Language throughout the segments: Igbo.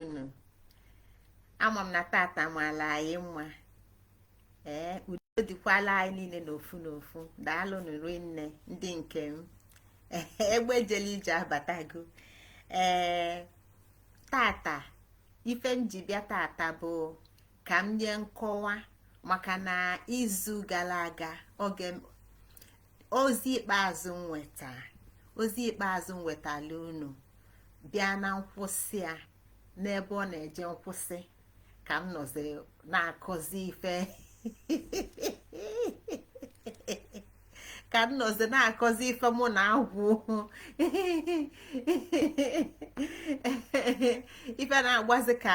unu ama m na tata maala anyị mma ee udo dịkwala anyị niile n'ofu n'ofu daalụnụ rinne ndị nke m egbe jele ije abatago ee tata ife m ji bịa tata bụ ka m nye nkọwa maka na izu gala aga oge ozi ikpeazụ m weta ozi ikpeazụ m wetala unu bịa na nkwụsị a n'ebe ọ na-eje nkwụsị ka m nọzi na-akọzi ife ka m nọzi na-akọzi ife mụ na-akọ ife na-agazi ka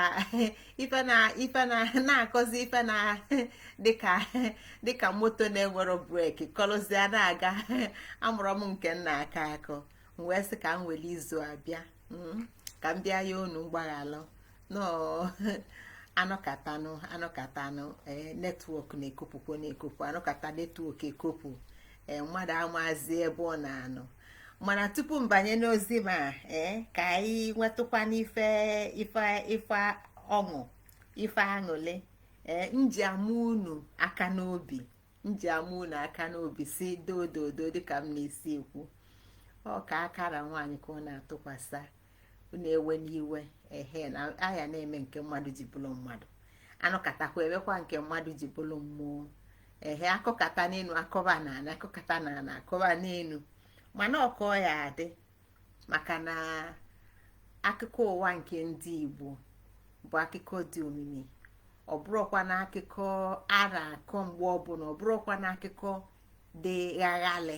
ife na ife na na-akọzi ife na dịka dịka moto na-enwero breki kọlụzia na-aga amarọ m nke m na-akọ akọ m wee sị ka m were izu a bịa hmm, ka m bịa yọọ unu mgbaghalụ anọkatanụ anọkatanụ eh, netwọk na-ekopụkwo na-ekopụ anọkata netwọk ekopụ eh, mmadụ amazi ebe ọ na-anọ mana tupu m banye n'ozi ma eh, ka anyị nwetụkwa n'ife ife ife ọṅụ ife aṅụlị ee eh, m ji ama unu aka n'obi m ji ama unu aka n'obi sị doo doo doo dịka m na-esi ekwu ọ ka akara nwaanyị ka ọ na-atụkwasị unu ewena iwe ehe na a ya na-eme nke mmadụ ji bụrụ mmadụ anọkatakwa emekwa nke mmadụ ji bụrụ mmụọ ehe akọkata n'elu akọba n'ana akọkata n'ana akọba n'elu mana ọ ka ọ ya-adị maka na akụkọ ụwa nke ndị Igbo bụ akụkọ dị omimi ọ bụrọkwa na akụkọ a na-akọ mgbe ọbụla ọ bụrọkwa na akụkọ dị ghaghalị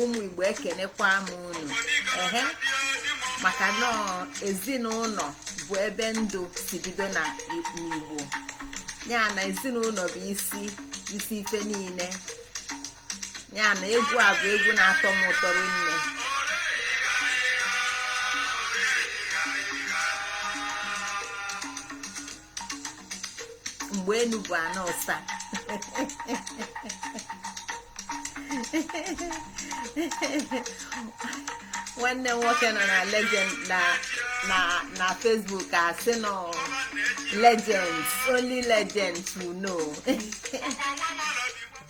ụmụ igbo ekenekwa m unu ehe maka na ezinụlọ bụ ebe ndụ si bido na igbo ya na ezinụlọ bụ isi isi ife niile ya na egwu a bụ egwu na-atọ m ụtọ rinne mgbe enu bụ ana ọsa nwanne m nwoke nọ na legend na na na Facebook asị nọ legends only legends will know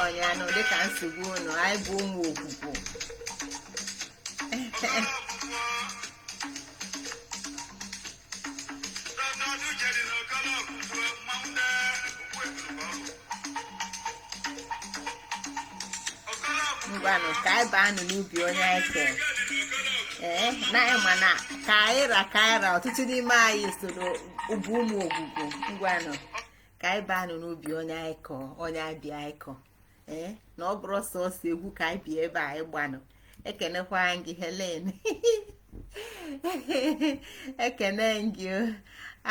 ọnya nụ dịka nsogbu unu anyị bụ ụmụ okwukwu ngwanụ ka anyị baa nụ n'ubi onye anyị kere ee na anyị ma na ka anyị ra ka anyị ra ọtụtụ n'ime anyị soro bụ ụmụ okwukwu ngwanụ ka anyị baa nụ n'ubi onye anyị kọ onye abịa anyị kọ ee na ọ bụrọ sọsọ egwu ka anyị bịa ebe anyị gbanụ ekenekwa m gị helen ekene gị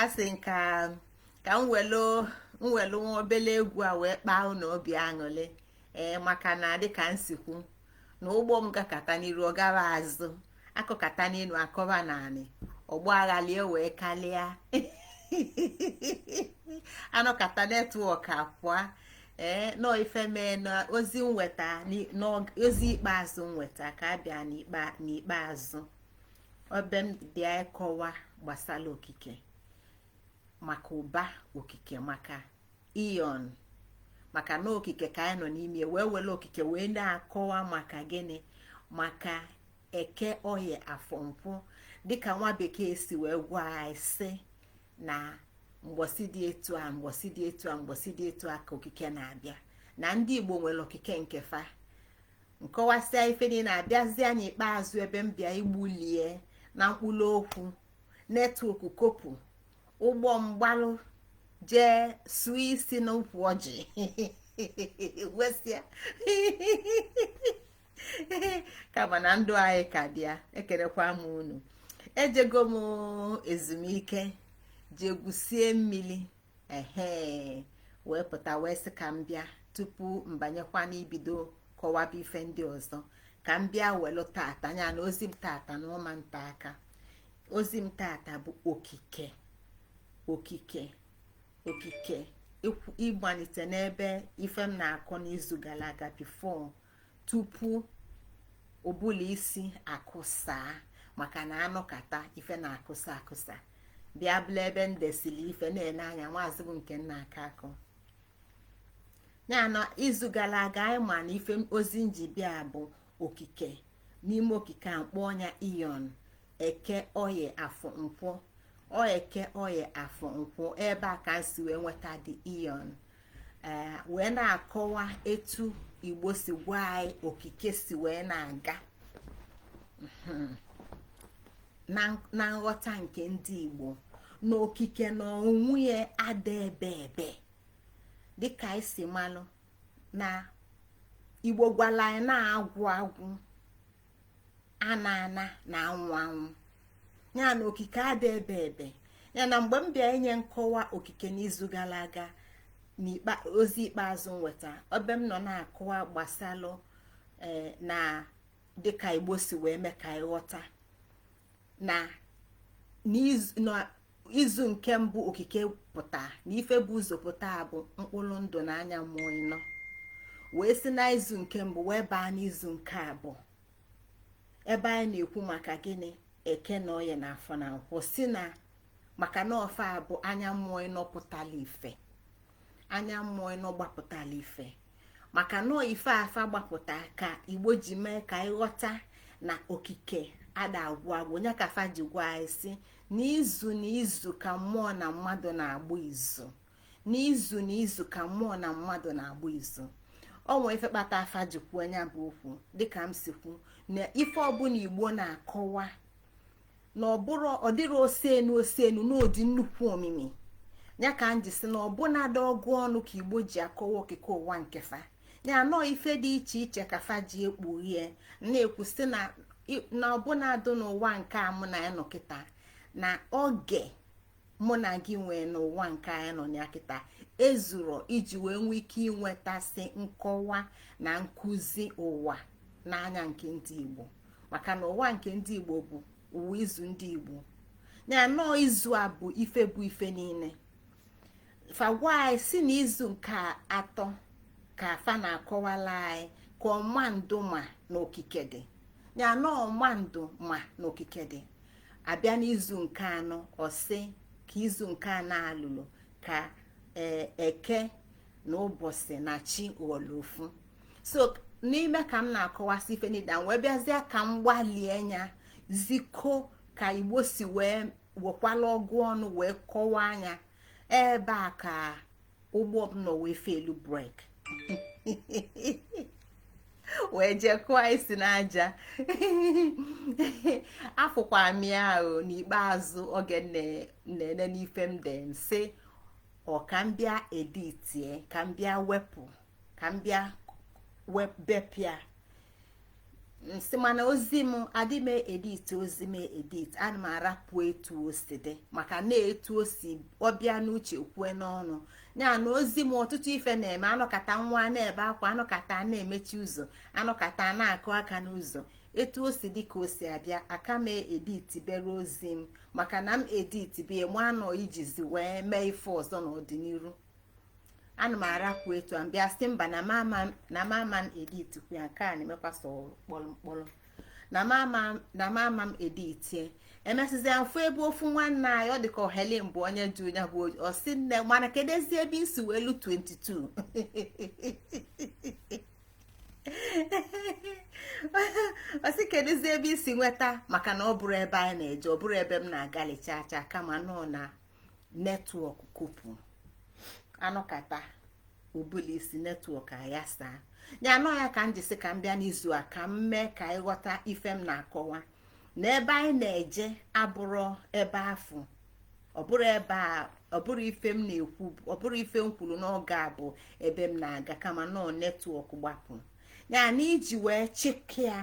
asị m ka m welu nwa obele egwu a wee kpaa unu obi aṅụlị ee maka na dịka m si kwu na ụgbọ m gakata n'iru ọ gaa azụ akọkata n'elu akọba n'anị ọgbaghalị ewee kalịa anọkata network apụa ee na ọ ife mee na ozi m weta n'ozi ikpeazụ m weta ka a bịa n'ikpeazụ ebe m bịa ịkọwa gbasara okike maka ụba okike maka eon maka na okike ka anyị nọ n'ime wee were okike wee na-akọwa maka gịnị maka eke oyi afọ nkwọ dịka nwa bekee si wee gwa anyị sị na mgbọsị dị etu a mgbọsị dị etu a mgbọsị dị etu a ka okike na-abịa na ndị igbo nwere okike nke fa m kọwasịa ife niile abịazia n'ikpeazụ ebe m bịa igbulie na mkpụrụ okwu network kopu ụgbọ m gbalụ jee sụọ isi n'ukwu ọjị wesịa kama na ndụ anyị ka dị ya ekelekwa m unu ejego m ezumike jee gwusie mmiri ehe wee pụta wee sị ka m bịa tupu m banyekwa n'ibido kọwaba ife ndị ọzọ ka m bịa welu tata anya na ozi m tata na ụma nta aka ozi m tata bụ okike okike okike ịgbalite n'ebe ife m na-akọ n'izu gara aga before tupu ụbụlụ isi akụsaa maka na anọkata ife na-akụsa akụsa bịa bụlụ ebe m desiri ife na-ele anya maazị bụ nke m na-aka akọ ya n'izu gara aga anyị ma na ife ozi m ji bịa bụ okike n'ime okike a kpọọ nya aeon eke oye afọ nkwọ eke oye afọ nkwọ ebe a ka m si wee nweta the aeon ee wee na-akọwa etu igbo si gwa anyị okike si wee na-aga mhm. na nghọta nke ndị igbo na okike na onwe ya ada ebe ebe dịka anyị si malụ na igbo gwala anyị na agwụ agwụ ana ana na anwụ anwụ ya na okike ada ebe ebe ya na mgbe m bịa inye nkọwa okike n'izu gala aga ozi ikpeazụ nweta ebe m nọ na-akọwa gbasalụ eh, na dịka igbo si wee mee ka ị ghọta na izu nke mbụ okike pụta na ife bu ụzọ pụta bụ mkpụrụ ndụ na anya mmụọ ịnọ wee si na izu nke mbụ wee baa n'izu nke abụọ ebe anyị na-ekwu maka gịnị eke na oye na afọ na nkwọ si na maka na ọ fa bụ anya mmụọ ịnọ pụtala ife anya mmụọ ịnọ gbapụtala ife maka na ife a fa gbapụta ka igbo ji mee ka ị ghọta na okike ada agwụ agwụ nya ka afa ji gwa anyị sị n'izu n'izu ka mmụọ na mmadụ na-agba izu n'izu n'izu ka mmụọ na mmadụ na-agba izu o nwee ife kpata afa ji kwuo nya bụ okwu dịka m si kwu na ife ọbụna igbo na-akọwa na-abụ ọ dịrị osenu osenu n'ụdị nnukwu omimi ya ka m ji si na ọbụnadị ọgụ ọnụ ka igbo ji akọwa okike ụwa nke fa ya nọọ ife dị iche iche ka fa ji ekpughie na-ekwu sị na ọbụnadị n'ụwa nke a mụ na ya nọ kịta na oge mụ na gị nwee n'ụwa nke anyị nọ ya kịta ezuro iji wee nwee ike inwetasị nkọwa na nkụzi ụwa n'anya nke ndị Igbo maka na ụwa nke ndị Igbo bụ ụwa izu ndị Igbo ya nọọ izu a bụ ife bụ ife niine fa gwa anyị sị na izu nke atọ ka fa na-akọwala anyị ka ọma ndụ ma na okike dị ya nọọ ọma ndụ ma na okike dị a bịa n'izu nke anọ ọ sị ka izu nke anọ alụlụ ka e, eke na ụbọsị na chi ghọlụ ofu so n'ime ka m na-akọwasị ife niile wee bịazie ka m gbalie nya ziko ka igbo si wee wekwala ọgụ ọnụ wee kọwaa nya ebe a ka ụgbọ m nọ wee feelu brake wee jee kụọ isi n'aja afụkwa m ya ahụ n'ikpeazụ oge na-ene n'ife m de m sị ọ ka m bịa editie ka m bịa wepụ ka m bịa bepịa nsị mana ozi m adị m edit ozi m edit ana m arapụ etu o si dị maka na etu o si ọ bịa n'uche kwue n'ọnụ ya na ozi m ọtụtụ ife na-eme a nọkata nwa na-ebe akwa a nọkata na-emechi ụzọ a nọkata na-akụ aka n'ụzọ etu o si dị ka o si abịa aka m edit bere ozi m maka na m edit bie mụ anọ ijizi wee mee ife ọzọ n'ọdịniru ana m arapụ etu a m bịa sị mba na m ama m editikwu ya nke a na-emekwa sọ kpọrọ na m ama m editie emesịzi afụ ebe ofu nwanne anyị ọ dị ka Helen bụ onye jụ nya bụ ọ sị nne mana keduzi ebe i si welu 22 ọ sị keduzi ebe i si nweta maka na ọ bụrọ ebe anyị na-eje ọ bụrọ ebe m na-agalicha acha kama na ọ na netwọk kopụrụ a nọkata o buli isi netwọk ayasa ya na ọ ya ka m ji sị ka m bịa n'izu a ka m mee ka ị ghọta ife m na-akọwa na ebe anyị na-eje abụrọ ebe afụ ọ bụrọ ebe a ọ bụrọ ife m na-ekwu ọ bụrọ ife m kwuru n'oge a bụ ebe m na-aga kama na ọ netwọk gbapụ ya na iji wee chịkịa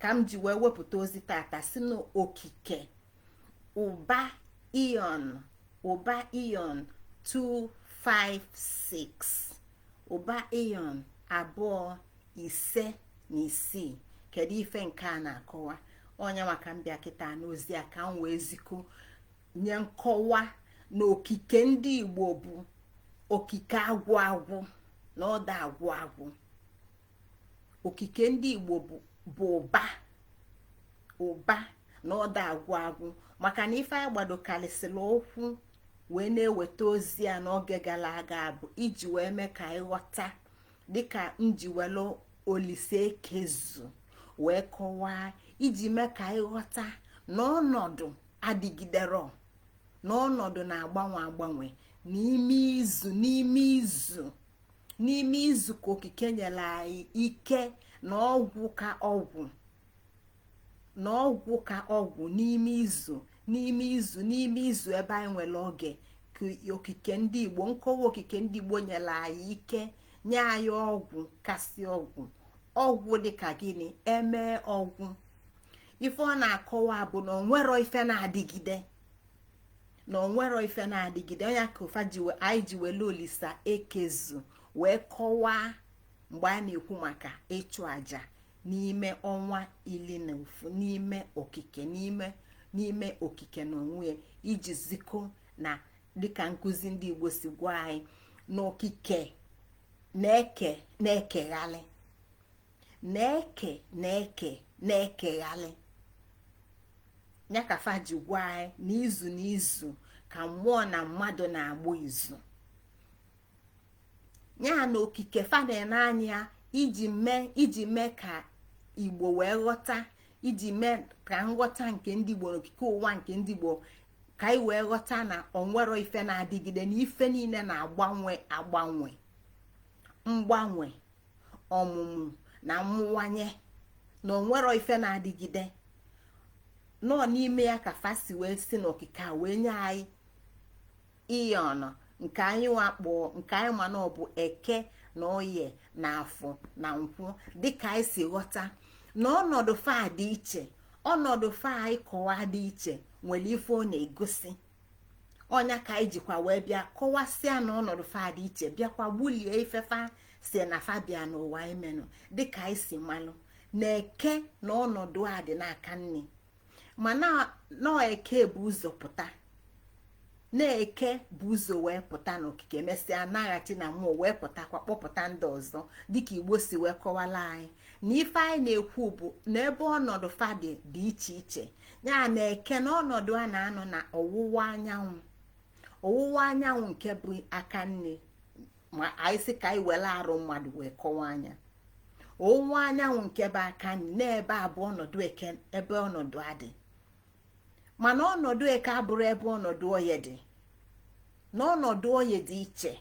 ka m ji wee wepụta ozi tata si n'okike ụba ion ụba ion 256 ụba ion abụọ ise na isii kedu ife nke a na-akọwa o nye m aka m bịa kịta n'ozi a ka m wee ziko nye nkọwa na okike ndị igbo bụ okike agwụ agwụ na ọ da agwụ agwụ okike ndị igbo bụ ụba ụba na ọ da agwụ agwụ maka na ife anyị gbadokarịsịrị ụkwụ wee na-eweta ozi a n'oge gara aga bụ iji wee mee ka ị ghọta dịka nji welu olise ekezu wee kọwaa iji mee ka ị ghọta na ọnọdụ adịgidero na ọnọdụ na-agbanwe agbanwe n'ime izu n'ime izu n'ime izu ka okike nyere anyị ike na ọgwụ ka ọgwụ na ọgwụ ka ọgwụ n'ime izu n'ime izu n'ime izu ebe anyị nwere oge ka okike ndị igbo nkọwa okike ndị igbo nyere anyị ike nye anyị ọgwụ kasị ọgwụ ọgwụ dịka gịnị e mee ọ gwụ ife ọ na-akọwa bụ na o nwero ife na-adịgide na o nwero ife na-adịgide ọ nya ka ife anyị ji wele olisa ekezu wee kọwaa mgbe a na-ekwu maka ịchụ aja n'ime ọnwa ili na ofu n'ime okike n'ime n'ime okike na ọ bụ iji ziko na dịka nkụzi ndị igbo si gwa anyị na okike na-eke na-ekeghalị na-eke na-eke na-ekeghalị ya ka fa ji gwa anyị na izu na izu ka mmụọ na mmadụ na-agba izu ya na okike fa na-ene anya iji mee iji mee ka igbo wee ghọta iji mee ka nghọta nke ndị igbo n'okike ụwa nke ndị igbo ka anyị wee ghọta na o nwero ife na-adịgide na ife niile na-agbanwe agbanwe mgbanwe ọmụmụ na mmụwanye na o nwero ife na-adịgide na ọ n'ime ya ka fa si wee si n'okike a wee nye anyị ihe anọ nke anyịnwa kpọ nke anyị ma na ọ bụ eke na oye na afọ na nkwọ dịka anyị si ghọta na ọnọdụ fa dị iche ọnọdụ fa anyị kọwa dị iche nwere ife ọ na-egosi ọ nya ka anyị jikwa wee bịa kọwasịa na ọnọdụ fa dị iche bịakwa bụlụ ife fa sị na fa bịa n'ụwa imenụ dịka anyị si malụ na eke na ọnọdụ a dị n'aka nni ma na eke bu ụzọ pụta na eke bu ụzọ wee pụta n'okike mesịa naghachi na mmụọ wee pụtakwa kpọpụta ndị ọzọ dịka igbo si wee kọwala anyị na ife anyị na-ekwu bụ na ebe ọnọdụ fa dị dị iche iche ya na eke na ọnọdụ a na-anọ na ọwụwa anyanwụ ọwụwa anyanwụ nke bụ aka nni ma anyị sị ka anyị were arụ mmadụ wee kọwaa nya ọwụwa anyanwụ nke bụ aka nni na ebe a bụ ọnọdụ eke ebe ọnọdụ a dị mana ọnọdụ eke abụrọ ebe ọnọdụ oye dị na ọnọdụ oye dị iche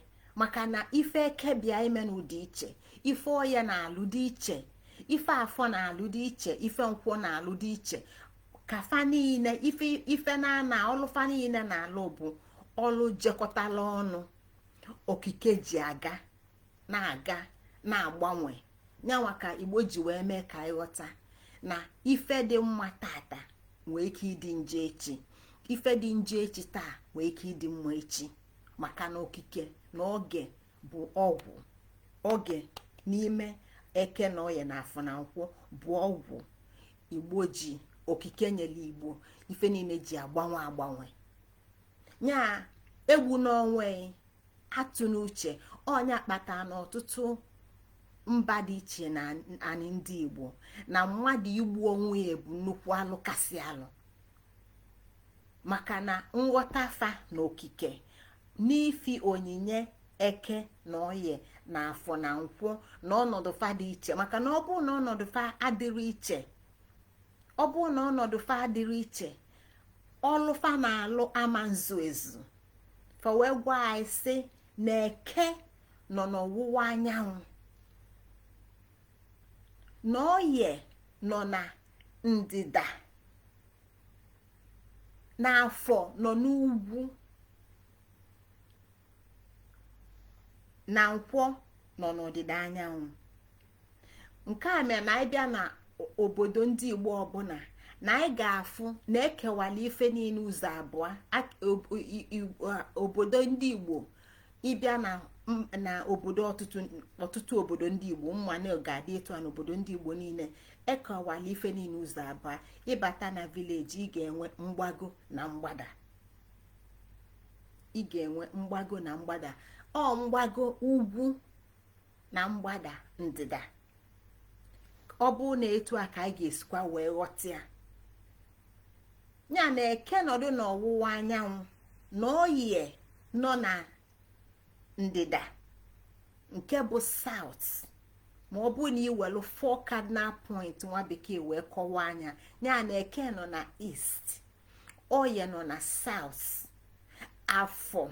maka na ife eke bịa imenụ dị iche ife oye na-alụ dị iche ife afọ na-alụ dị iche ife nkwọ na-alụ dị iche ka fa niile ife na ana ọlụ fa niile na-alụ bụ ọlụ jekọtala ọnụ okike ji aga na-aga na-agbanwe nyanwa ka igbo ji wee mee ka ị ghọta na ife dị mma tata nwee ike ịdị njọ echi ife dị njọ echi taa nwee ike ịdị mma echi maka na okike na oge bụ ọgwụ oge n'ime eke na oye na afọ na nkwọ bụ ọgwụ igbo ji okike nyere igbo ife niile ji agbanwe agbanwe ya egbuna onwe atụna uche ọ nya kpata na ọtụtụ mba dị iche na anị ndị igbo na mmadụ igbu onwe ya bụ nnukwu alụ kasị alụ maka na nghọta fa na okike n'ifi onyinye eke na oye na afọ na nkwọ na ọnọdụ fa dị iche maka na ọ bụrụ na ọnọdụ fa adịrọ iche ọ bụrụ na ọnọdụ fa adịrọ iche ọlụ fa na-alụ ama nzu ezu fa wee gwa anyị sị na eke nọ n'ọwụwa anyanwụ na oye nọ na ndịda na afọ nọ n'ugwu na nkwọ nọ n'ọdịda anyanwụ nke a mere na anyị bịa na obodo ndị igbo ọbụla na anyị ga-afụ na ekewala ife niile ụzọ abụọ obodo ndị igbo ị bịa na na obodo ọtụtụ obodo ndị igbo m ma na ọ ga-adị etu a n'obodo ndị igbo niile ekọwala ife niile ụzọ abụọ ị bata na village ị ga-enwe mgbago na mgbada ị ga-enwe mgbago na mgbada ọ mgbago ugwu na mgbada ndịda ọ bụ na etu a ka anyị ga-esikwa wee ghọta ya ya na eke nọdụ n'ọwụwa anyanwụ na oye nọ na ndịda nke bụ south ma ọ bụ na i welu four cardinal point nwa bekee wee kọwaa nya ya na eke nọ na east oye nọ na south afọ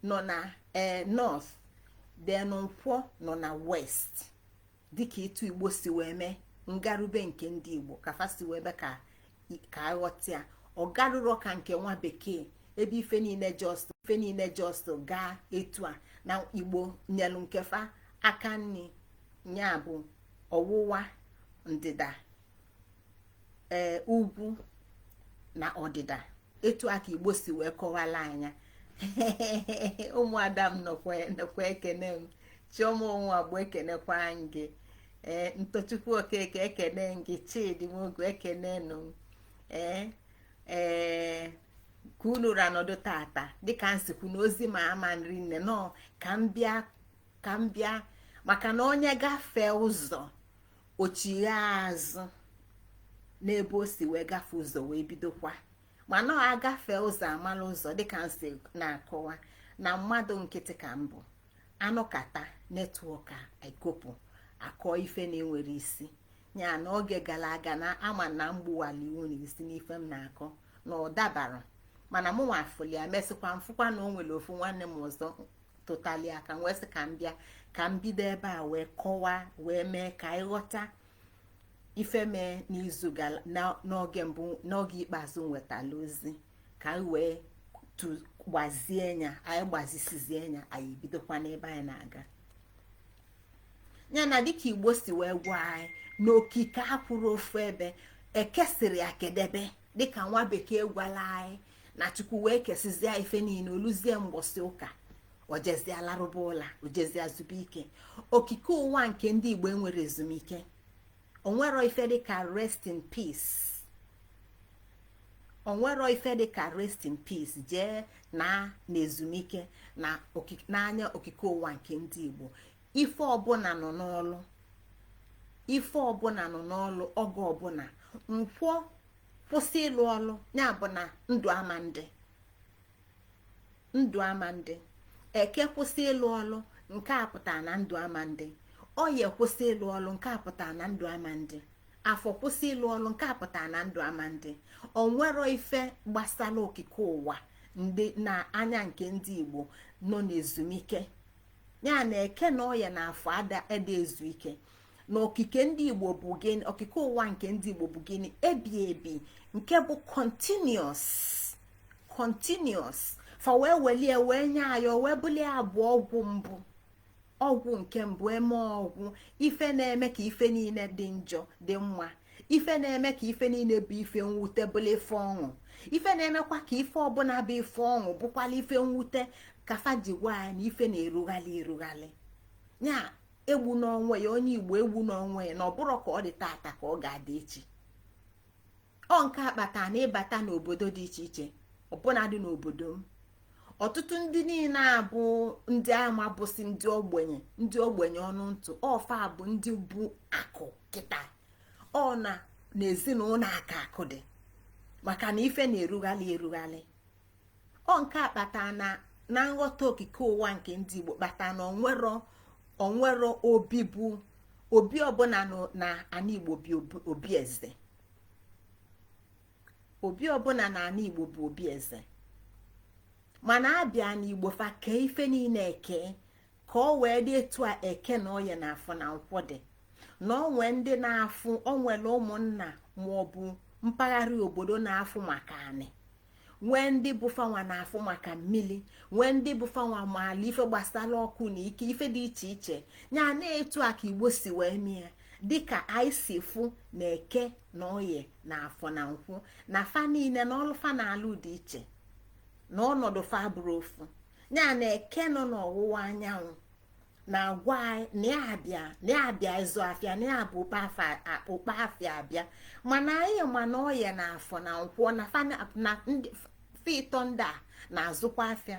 nọ na ee eh, north then nkwọ nọ na west dịka etu igbo si wee mee ngarube nke ndị igbo ka fa si wee mee ka ka a ghọta ya ọ garụrọ ka nke nwa bekee ebe ife niile just ife niile just gaa etu a na igbo nyelu nke fa aka nni ya bụ ọwụwa ndịda ee eh, ugwu na ọdịda etu a ka igbo si wee kọwala anyị ya ụmụada m nọkwa ekene m chioma onwuagbu ekenekwa m gị ee eh, ntochukwu okeke ekene m gị chidi nwogu ekenenụ ee eh, ee ka unu ra nọdụ tata dịka m si kwu na ozi ma ama nri nne nọ ka m bịa ka m bịa maka na onye gafee ụzọ o chighaa azụ n'ebe o si wee gafe ụzọ wee bidokwa mana ọ agafe ụzọ amala ụzọ dịka m si na-akọwa na mmadụ nkịtị ka m bụ anọkata network a ekopụ akọ ife na-enwerọ isi ya na oge gara aga na ama na mgbuwala iwu na isi n'ife m na-akọ na ọ dabara mana mụnwa fụli ya mesịkwa m fụkwa na o nwere ofu nwanne m ọzọ totali aka wee sị ka m bịa ka m bido ebe a wee kọwaa wee mee ka anyị ghọta ife mee n'izu n'oge mbụ n'oge ikpeazụ m wetala ozi ka anyị wee gbazie nya anyị gbazisizie nya anyị bidokwa n'ebe anyị na-aga ya na dịka igbo si wee gwa anyị na okike akwụrọ ofu ebe ekesịrị akedebe dịka nwa bekee gwala anyị na chukwu wee kesịzie ife niile oluzie mgbọsị ụka o jezie larụba ụla o jezie zuba ike okike ụwa nke ndị igbo enwero ezumike onwero ife dịka rest in peace onwero ife dịka rest in peace jee na na ezumike na n'anya okike ụwa nke ndị igbo ife ọbụla nọ n'ọlụ ife ọbụla nọ n'ọlụ oge ọbụla nkwọ kwụsị ịlụ ọlụ ya bụ na ndụ ama ndị ndụ ama ndị eke kwụsị ịlụ ọlụ nke a pụtara na ndụ ama ndị oye kwụsị ịlụ ọlụ nke a pụtara na ndụ ama ndị afọ kwụsị ịlụ ọlụ nke a pụtara na ndụ ama ndị onwero ife gbasala okike ụwa ndị na anya nke ndị Igbo nọ n'ezumike ya na eke na oye na afọ ada ezu ike na okike ndị igbo bụ gịnị okike ụwa nke ndị igbo bụ gịnị ebi ebi nke bụ continuous continuous fa wee welie wee nye anyị wee bulie abụ ọgwụ mbụ ọgwụ nke mbụ eme ọgwụ ife na-eme ka ife niile dị njọ dị mma ife na-eme ka ife niile bụ ife mwute bụla ife ọṅụ ife na-emekwa ka ife ọbụla bụ ife ọṅụ bụkwala ife mwute ka fa ji gwa ya na ife na-erughalị erughalị ya egbuna onwe ya onye igbo egbuna onwe ya na ọ bụrọ ka ọ dị taata ka ọ ga-adị echi ọ nke a kpata na ịbata n'obodo dị iche iche ọbụnadị n'obodo m ọtụtụ ndị niile a bụ ndị ama bụsị ndị ogbenye ndị ogbenye ọnụ ntụ ọ fa bụ ndị bu akụ kịta ọ na n'ezinụlọ a ka akụ dị maka na ife na-erughalị erughalị ọ nke a kpata na na nghọta okike ụwa nke ndị Igbo kpata na onwero onwero obi bụ obi ọbụla na ana Igbo bụ obi eze obi ọbụla na ana igbo bụ obi eze mana abịa na igbo fa kee ife niile eke ka ọ wee dị etu a eke na oye na afọ na nkwọ dị na onwe ndị na-afụ onwere ụmụnna maọbụ mpaghara obodo na-afụ maka anị nwee ndị bụ fanwa na-afụ maka mmili nwee ndị bụ fanwa maala ife gbasala ọkụ na ike ife dị iche iche ya na etu a ka igbo si wee mee dịka anyị si fụ na eke na oye na afọ na nkwọ na fa niile na ọlụ fa na-alụ dị iche na ọnọdụ fa bụrọ ofu ya na eke nọ n'ọwụwa anyanwụ na-agwa anyị na ya abịa na ya abịa ịzụ afịa na ya bu ụkpa afịa abịa mana anyị ma na oye na afọ na nkwọ na fa na ndị fa ịtọ ndị a na-azụkwa afịa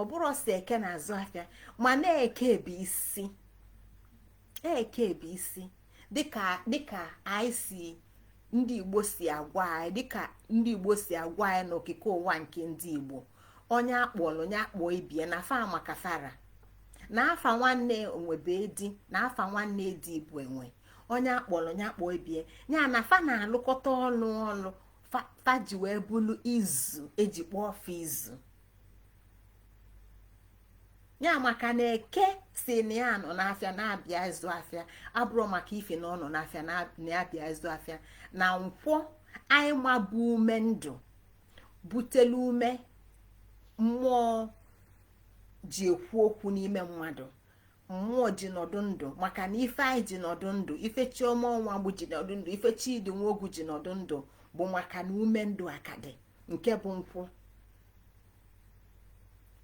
ọ bụrọ sọ eke na-azụ afịa mana eke bụ isi eke bụ isi dịka dịka anyị si ndị igbo si agwa anyị dịka ndị igbo si agwa anyị n'okike ụwa nke ndị igbo onye akpọlụ onye akpọ ibie na fa maka fara na afa nwanne enwe bụ edi na afa nwanne edi bụ enwe onye akpọlụ onye akpọ ibie ya na fa na-alụkọta ọlụ ọnụ fa ji wee bụlụ izu eji kpọọ fa izu ya maka na eke si na ya nọ n'afịa na-abịa ịzụ afịa abụrọ maka ife na ọ nọ n'afịa na-abịa ịzụ afịa na nkwọ anyị ma bụ ume ndụ butelu ume mmụọ ji ekwu okwu n'ime mmadụ mmụọ ji nọdụ ndụ maka na ife anyị ji nọdụ ndụ ife chioma ọnwagbu ji nọdụ ndụ ife chidi nwogu ji nọdụ ndụ bụ maka na ume ndụ akadị nke bụ nkwọ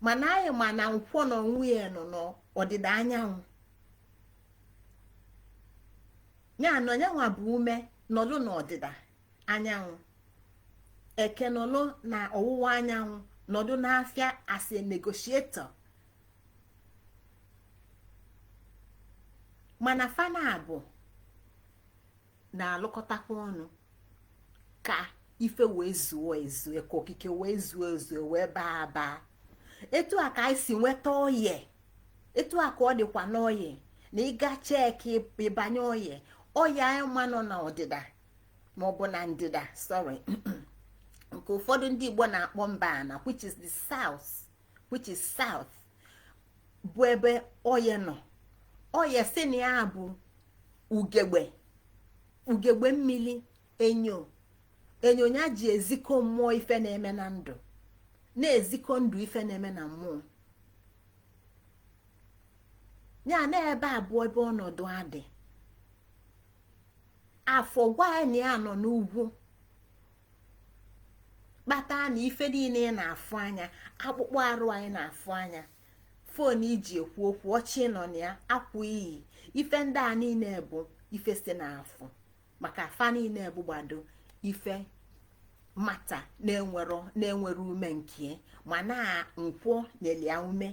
mana anyị ma na nkwọ na onwe ya nọ n'ọdịda anyanwụ ya na ọ yanwa bụ ume nọlụ n'ọdịda anyanwụ eke nọlụ na ọwụwa anyanwụ nọdụ n'afịa as a negotiator mana fa naabọ na-alụkọtakwa ọnụ ka ife wee zuo ezu ka okike wee zuo ezu wee baa baa etu a ka anyị si nweta oye etu a ka ọ dịkwa n'oye na ị ga cheki ịbanye oye oye anyị ma nọ na ọdịda ma ọ bụ na ndịda sorry nke ụfọdụ ndị Igbo na-akpọ mba ana which is the south which is south bụ ebe oye nọ oye si na ya bụ ugegbe ugegbe mmiri enyo enyo ya ji ezikọ mmụọ ife na-eme na ndụ na-ezikọ ndụ ife na-eme na mmụọ ya na ebe a bụ ebe ọnọdụ ya dị afọ gwa anyị na ya nọ n'ugwu kpata na ife niine ị na-afụ anya akpụkpọ arụ anyị na-afụ anya fon i ji ekwu okwu oche ị nọ na ya akwa i yi ife ndị a niine bụ ife si n'afọ maka fa niine bụgbado ife matter na-enwerọ ume nke ma na nkwọ nyelu ya ume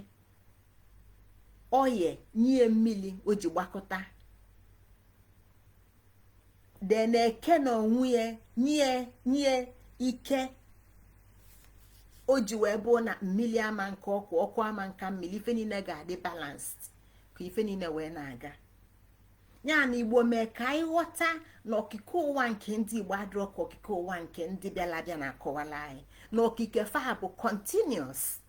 oye nye ya mmili o ji gbakọta then eke na onwe ya nye ya ike o ji wee bụ na mmili ama aka ọkụ ọkụ ama aka mmili ife niine ga-adị balanced ka ife niine wee na-aga ya na igbo mee ka anyị ghọta na okike ụwa nke ndị igbo adịrọ ka okike ụwa nke ndị bịala abịa na-akọwala anyị na okike fa bụ continuous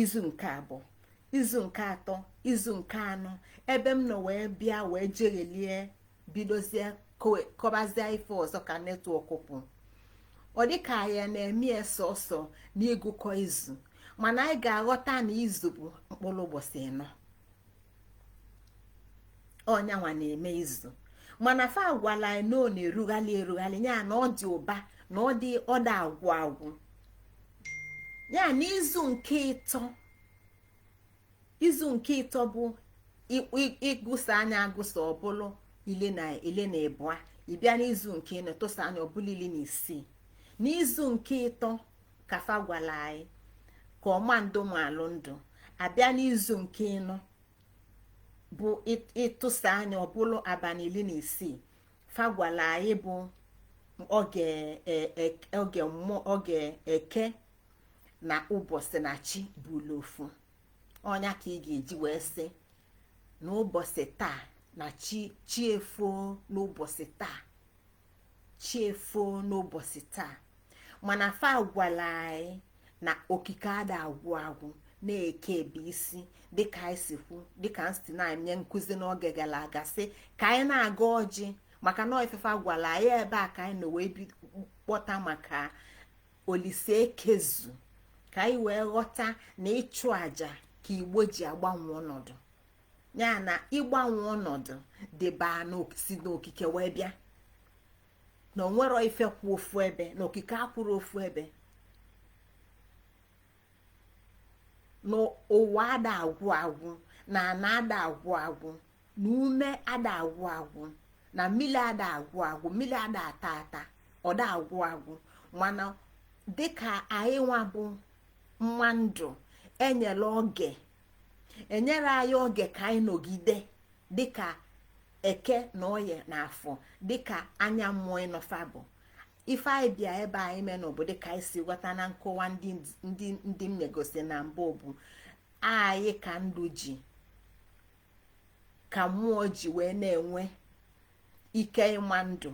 izu nke abụọ izu nke atọ izu nke anọ ebe m nọ wee bịa wee jeghelie bidozie kọbazie ife ọzọ ka network pụ ọ dịka anyị na-eme sọsọ n'ịgụkọ izu mana anyị ga-aghọta na izu bụ mkpụrụ ụbọchị ịnọ ọ nya nwa na-eme izu mana fa gwala anyị na ọ na-erughali erughali ya na ọ dị ụba na ọ dị ọ da agwụ agwụ ya n'izu nke ịtọ izu nke ịtọ bụ ị gụsa nya agụsa ọ bụlụ ili na ịbụa ị bịa n'izu nke ịnọ tụsa nya ọ bụlụ ili na isii n'izu nke ịtọ ka fa gwala anyị ka ọma ndụ malụ ndụ a bịa n'izu nke ịnọ bụ ị tụsa nya ọ bụlụ abalị ili na isii fa gwala anyị bụ oge e, e, oge mmụọ oge eke na ụbọchị na chi bụlụ ofu ọ nya ka ị ga-eji wee sị na ụbọchị taa na chi chi efoo n'ụbọchị taa chi efoo n'ụbọchị taa mana fa gwala anyị na okike ada agwụ agwụ na eke ebe isi dịka anyị si kwu dịka m si na-enye nkụzi n'oge gara aga sị ka anyị na-agọ ọjị maka na ife fa gwala anyị ebe a ka anyị nọ wee kpọta maka olise ekezu ka anyị wee ghọta na ịchụ aja ka igbo ji agbanwe ọnọdụ ya na ịgbanwe ọnọdụ dịba si n'okike wee bịa na o nwerọ ife kwụ ofu ebe na okike akwụrọ ofu ebe na ụwa ada agwụ agwụ na ana ada agwụ agwụ na ume ada agwụ agwụ na mmiri ada agwụ agwụ mmiri ada ata ata ọ da agwụ agwụ mana dịka anyị nwa bụ nwa ndụ e nyere oge e nyere anyị oge ka anyị nọgide dịka eke na oye na afọ dịka anya mmụọ ịnọ fa bụ ife anyị bịa ebe anyị menụ bụ dịka anyị si ghọta na nkọwa ndị m megosi na mbụ bụ anyị ka ndụ ji ka mmụọ ji wee na-enwe ike ịma ndụ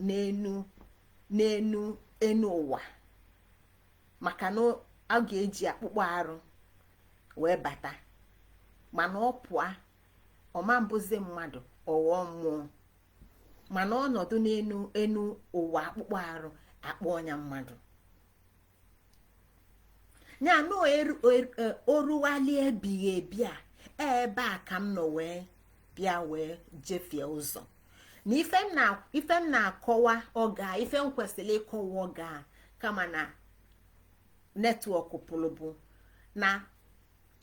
n'enu n'enu enu ụwa maka na a ga-eji akpụkpọ arụ wee bata mana ọ pụọ ọ ma-abụzi mmadụ ọ ghọọ mmụọ mana ọ nọdụ n'enu ụwa akpụkpọ arụ a kpọọ nya mmadụ ya na oruwali ebighị ebi a e, ebe a ka m nọ wee bịa wee jefie ụzọ na ife m na-akọwa oge a ife m kwesịrị ịkọwa oge a kama na network pụrụ bụ na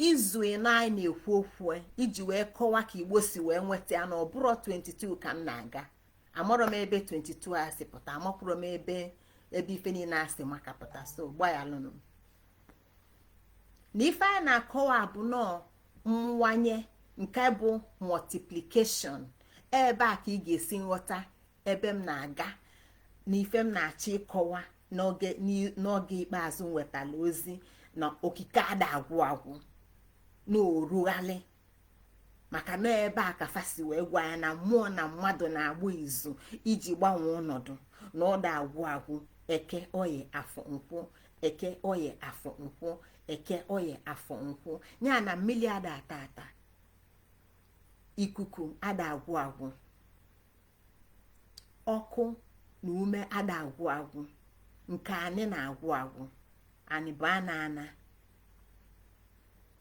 izu ịnọ anyị na-ekwu okwu e, iji wee kọwa ka igbo si wee nweta ya na ọ bụrọ 22 ka m na-aga amarọ m ebe 22 a si pụta amakwọrọ m ebe ebe ife niile a si maka pụta so gbaghalụnụ m na ife anyị na-akọwa bụ nọọ mwanye nke bụ multiplication ebe a ka ị ga-esi nghọta ebe m na-aga na ife m na-achọ ịkọwa n'oge ikpeazụ m wetara ozi na okike ada agwụ agwụ na orughalị maka na ebe a ka fa si wee gwa anyị na mmụọ na mmadụ na-agba izu iji gbanwee ọnọdụ na ọ da agwụ agwụ eke oye afọ nkwụ eke oye afọ nkwụ eke oye afọ nkwụ ya na mmiri ada ata ata ikuku ada agwụ agwụ ọkụ na ume ada agwụ agwụ nke anyị na-agwụ agwụ anyị bụ ana ana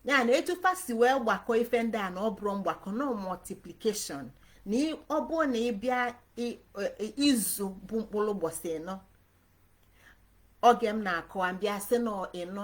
ya na etu fa si wee gbakọ ife ndị a na ọ bụrọ mgbakọ na ọ multiplication na ọ bụrụ na ị bịa izu bụ mkpụrụ ụbọchị ịnọ oge m na-akọwa m bịa sị na ịnọ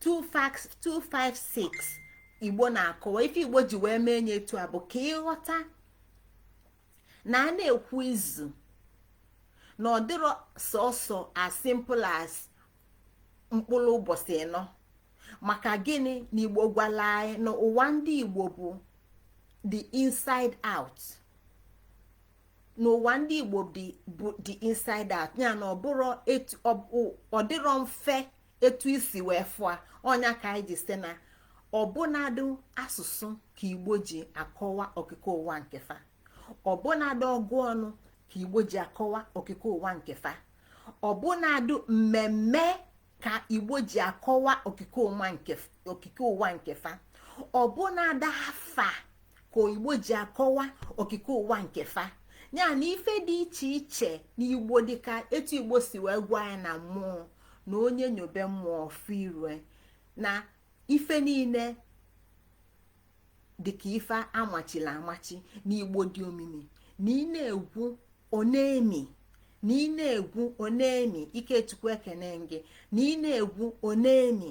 256 igbo na-akọwa ife igbo ji wee mee nya etu a bụ ka ị ghọta na a na-ekwu izu na ọ dịrọ sọsọ as simple as mkpụrụ ụbọchị ịnọ maka gịnị na igbo gwala anyị na ụwa ndị igbo bụ the inside out n'ụwa ndị igbo bụ the inside out ya na ọ dịrọ mfe etu i si wee fụa nya ka anyị ji sị na ọbụnadụ asụsụ ka igbo ji akọwa okike ụwa nke fa ọbụnadụ ọgụ ọnụ ka igbo ji akọwa okike ụwa nke fa ọbụnadụ mmemme ka igbo ji akọwa okike ụwa nke fa ọbụnadụ afa ka igbo ji akọwa okike ụwa nke fa ya na ife dị iche iche n'igbo dịka etu igbo si wee gwa anyị na mmụọ na onye nyobe mmụọ ọ fụ iru e na ife niile dịka ife amachila amachi na igbo dị omimi na ị na-egwu ọ na-emi na ị na-egwu ọ na-emi ikechukwu ekene m gị na ị na-egwu ọ na-emi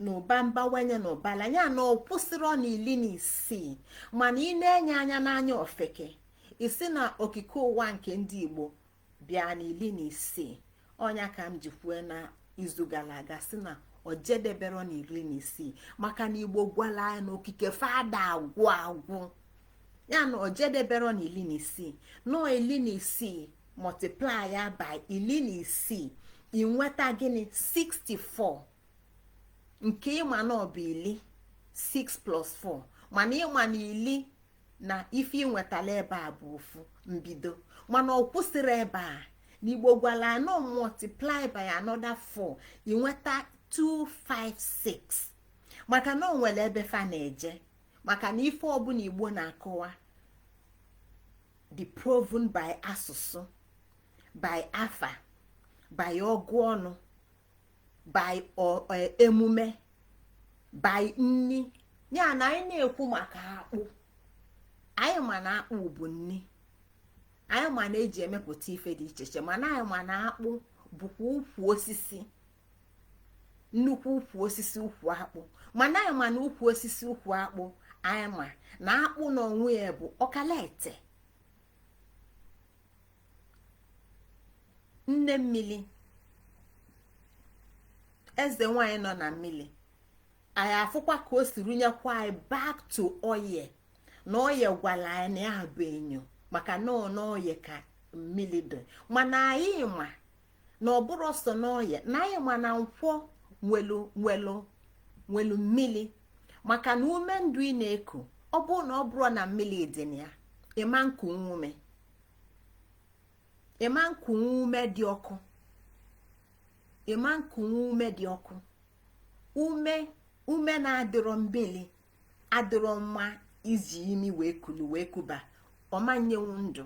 na ụba mbawanye na ụbala ya na ọ kwụsịrọ na iri na isii mana ị na-ene anya n'anya ofeke ị sị na okike ụwa nke ndị igbo bịa na iri na isii ọ nya ka m ji kwue na izu gara aga sị na o jedebero na iri na isii maka na igbo gwala anyị na okike fa ada agwụ agwụ ya na o jedebero na iri na isii no iri na isii multiply ya by iri na isii i nweta gịnị 64 nke ị ma na ọ bụ iri 6 plus 4 mana ị ma na iri na ife i nwetala ebe a bụ ofu mbido mana ọ kwụsịrọ ebe a na igbo gwala anọ multiply by another 4 i nweta 256 maka na o nwere ebe fa na-eje maka na ife ọbụla igbo na-akọwa dị proven by asụsụ by afa by ọgụ ọnụ by e, emume by nni ya na anyị na-ekwu maka akpụ anyị ma na akpụ bụ nni anyị ma na e ji emepụta ife dị iche iche mana anyị ma na akpụ bụkwa ukwu osisi nnukwu ukwu osisi ukwu akpụ mana anyị ma na ukwu osisi ukwu akpụ anyị ma na akpụ na onwe ya bụ ọkalaete nne mmiri eze nwanyị nọ na mmiri anyị afụkwa ka o si rụnyekwa anyị back to oye na oye gwara anyị na ya bụ enyo maka na ọ na oye ka mmiri dị mana anyị ma na ọ bụrọ sọ n'oye na anyị ma na nkwọ nwelu mmiri maka na ume ndụ ị na-eku ọ bụrụ na ọ bụrọ na mmiri dị na ya ị ma nkunwu ume ị ma nkunwu ume dị ọkụ ị ma nkunwu ume dị ọkụ ume ume na-adịrọ mmiri adịrọ mma iji imi wee kulu wee kuba ọ ma nyenwu ndụ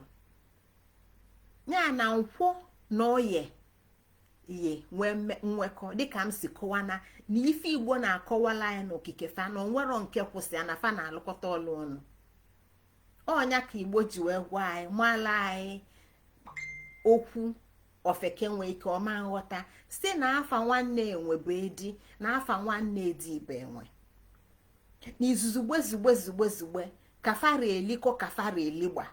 ya na nkwọ na oye ye nwee nwekọ dịka m si kọwa na na ife igbo na-akọwala anyị n'okike fa na o nwero nke kwụ sọ ya na fa na-alụkọta ọlụ ọnụ ọ nya ka igbo ji wee gwa anyị mala anyị okwu ofeke nwee ike ọ ma nghọta sị na afa nwanne enwe bụ edi na afa nwanne edi bụ enwe n'izuzugbe zugbe zugbe zugbe ka fa ra eliko ka fa ra eligba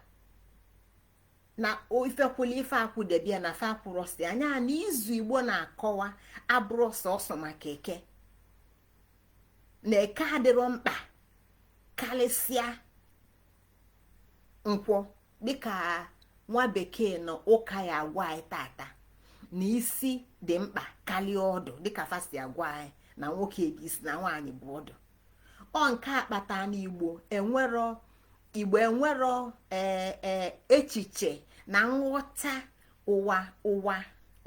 na ife kwụlụ ife akwụdebe ya na fa akwụrọ sọ nya na izu igbo na-akọwa abụrọ sọsọ maka eke na eke adịrọ mkpa karịsịa nkwọ dịka nwa bekee na ụka ya agwa anyị tata na isi dị mkpa karịa ọdụ dịka fa si agwa anyị na nwoke bụ isi na nwaanyị bụ ọdụ ọ nke a kpata na igbo enwero igbo enwero e, e, echiche na nghọta ụwa ụwa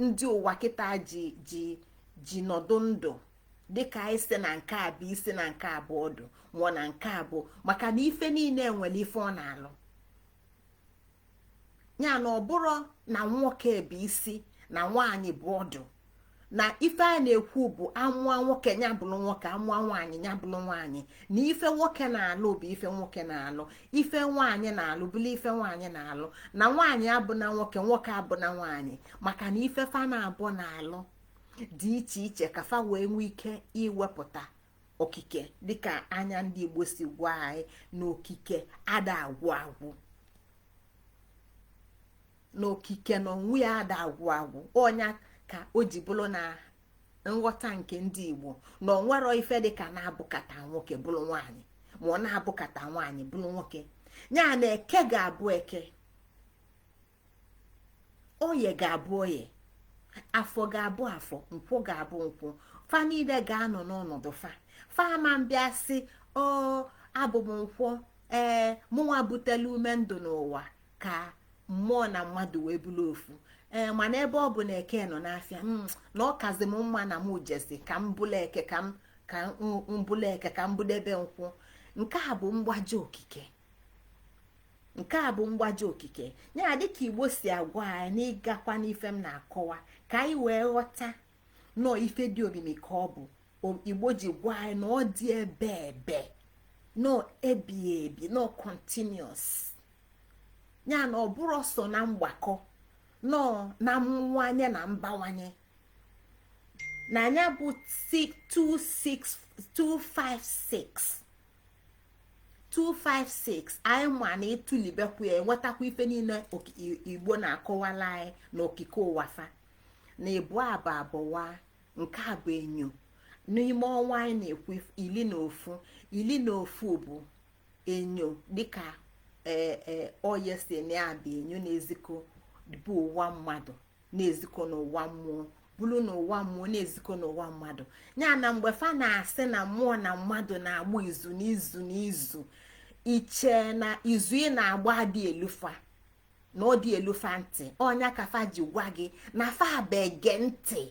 ndị ụwa kịta ji ji ji nọdụ ndụ dịka anyị si na nke a bụ isi na nke a bụ ọdụ ma ọ na nke a bụ maka na ife niile nwere ife ọ na-alụ ya na ọ bụrọ na nwoke bụ isi na nwaanyị bụ ọdụ na ife a na-ekwu bụ a mụọ nwoke ya bụrụ nwoke a mụọ nwaanyị ya bụrụ nwaanyị na ife nwoke na-alụ bụ ife nwoke na-alụ ife nwaanyị na-alụ bụrụ ife nwaanyị na-alụ na nwaanyị abụna nwoke nwoke abụna nwaanyị maka na ife fa naabọ na-alụ dị iche iche ka fa wee nwee ike iwepụta okike dịka anya ndị igbo si gwa anyị na okike ada agwụ agwụ na okike na onwe ya ada agwụ agwụ ọ nya ka o ji bụrụ na nghọta nke ndị igbo na o nwero ife dịka na-abụkata nwoke bụrụ nwaanyị ma ọ na-abụkata nwaanyị bụrụ nwoke ya na eke ga-abụ eke oye ga-abụ oye afọ ga-abụ afọ nkwọ ga-abụ nkwọ fa niile ga-anọ n'ọnọdụ fa fa ama abịa sị o abụ m nkwọ ee mụnwa butela ume ndụ n'ụwa ka mmụọ na mmadụ wee bụrụ ofu ee mana ebe ọ bụ na eke nọ n'afịa hmm, na ọ kazi m mma na m jezi ka m bụlụ eke ka m ka m bụlụ eke ka m bụdebe nkwọ nke a bụ mgbaji okike nke a bụ mgbaji okike ya dịka igbo si agwa anyị na ị gakwa n'ife m na-akọwa ka anyị wee ghọta nọọ ife dị omimi ka ọ bụ igbo ji gwa anyị na ọ dị ebebe nọ ebi ebi na ọ continuous ya na ọ bụrọ sọ na mgbakọ na ọ na mmụwanye na mbawanye na anya bụ 256 256 anyị ma na ị tụlebekwu ya enwetakwa ife niile igbo na-akọwala anyị na okike ụwa fa na ịbụa abụa abụa nke a bụ enyo n'ime ọnwa anyị na-ekwu ili na ofu ili na ofu bụ enyo dịka ee e, oye si na-abụ enyo na-ezikọ bụ ụwa mmadụ na-ezikọ n'ụwa mmụọ bụrụ n'ụwa mmụọ na-ezikọ n'ụwa mmadụ ya na mgbe fa na-asị na mmụọ na mmadụ na-agba izu n'izu n'izu ị che na izu ị na-agba adị elu fa na ọ dị elu fa ntị ọ nya ka fa ji gwa gị na fa bụ ege ntị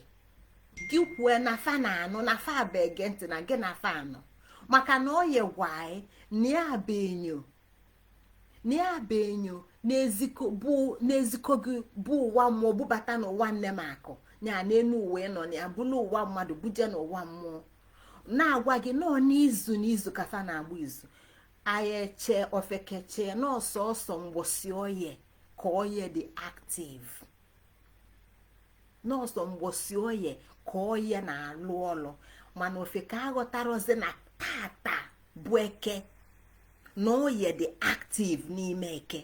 gị kwue na fa na-anụ na fa bụ ege ntị na gị na fa anụ maka na oye gwa anyị na ya bụ enyo na ya bụ enyo na-ezikọ gị bu ụwa mmụọ bubata n'ụwa nne m akụ ya n'enu uwe nọ na ya bulu ụwa mmadụ buje n'ụwa mmụọ na-agwa gị na ọ n'izu n'izu ka fa na-agba izu anyị eche ofeke eche na ọ sọsọ mgbọsị oye ka oye dị active. na ọ sọ mgbọsị oye ka oye na-alụ ọlụ mana ofeke aghọtarọzị na tata bụ eke na oye dị active n'ime eke